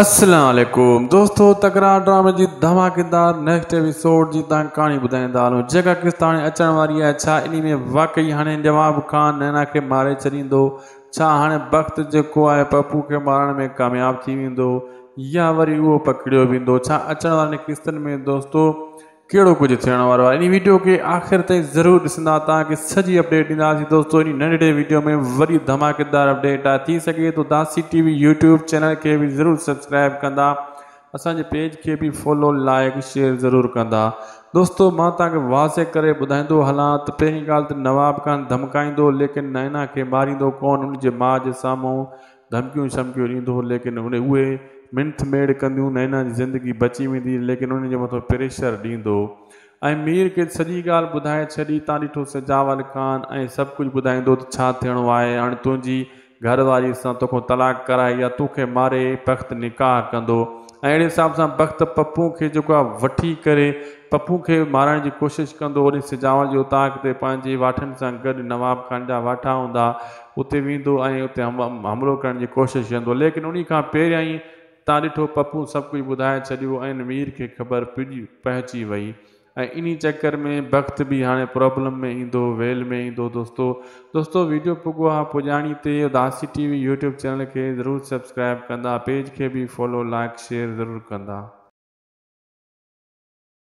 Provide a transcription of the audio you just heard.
السلام عليڪم دوستو تڪرار ڊرامي جي ڌماڪيدار نيڪسٽ ايپيسوڊ جي تان ڪهاڻي ٻڌائيندا هلون جيڪا قسط هاڻي اچڻ واري آهي ڇا انهي ۾ واقعي هاڻي نواب خان نينا کي ماري ڇڏيندو ڇا هاڻي بخت جيڪو آهي پپو کي مارڻ ۾ ڪامياب ٿي ويندو يا وري اهو پڪڙيو ويندو ڇا اچڻ وارين قسطن ۾ دوستو ڪهڙو ڪجهه ٿيڻ وارو آهي انهي ويڊيو کي آخر تائين ضرور ڏسندا توهان کي سڄي اپڊيٽ ڏينداسين دوستو انهي ننڍڙي ويڊيو ۾ وڏي ڌماڪيدار اپڊيٽ آهي ٿي سگهي ٿو داسي ٽي وي يوٽيوب چينل کي به ضرور سبسڪرائب ڪندا اسان جي پيج کي به فالو لائيڪ شيئر ضرور ڪندا دوستو مان توهان کي واضح ڪري ٻڌائيندو هلان ته پهرين ڳالهه ته نواب خان ڌمڪائيندو ليڪن نائنا کي ماريندو ڪون ان جي ماء جي سامهون ڌمڪيون چمڪيون ڏيندو هو ليڪن ان اهي منٿ ميڙ ڪنديون نه انهن جي زندگي بچي ويندي ليڪن انهن جي مٿو پريشر ڏيندو ۽ مير کيس سڄي ڳالهه ٻڌائي ڇڏي تان ڏٺو سجاول خان ۽ سڀ ڪجهه ٻڌائيندو ته ڇا ٿيڻو آهي هاڻي تنهنجي گهر واري سان توکون طلاق ڪرائي يا توکي ماري بخت نڪاح ڪندو ۽ اهڙي حساب سان بخت پپو کي جيڪو آهي وٺي ڪري پپو کي مارڻ جي ڪوشش ڪندو هوڏي سجاول جي اوطاق تي پنهنجي واٺن سان گڏ نواب خان جا واٺا هوندا اتي ويندو ۽ اتي حملو ڪرڻ جي ڪوشش ڪندو ليڪن انهي کان پهريائين تان ڏٺو پپون سڀ ڪجهه ٻڌائي ڇڏيو ۽ مير کي خبر پهچي وئي ۽ انهي چڪر ۾ بخت به هاڻي پرابلم ۾ ايندو ويل ۾ ايندو دوستو دوستو ويڊيو پڳو آهي پڄاڻي تي اداسي ٽي وي يوٽيوب چينل کي ضرور سبسڪرائب ڪندا پيج کي به فالو لائيڪ شيئر ضرور ڪندا.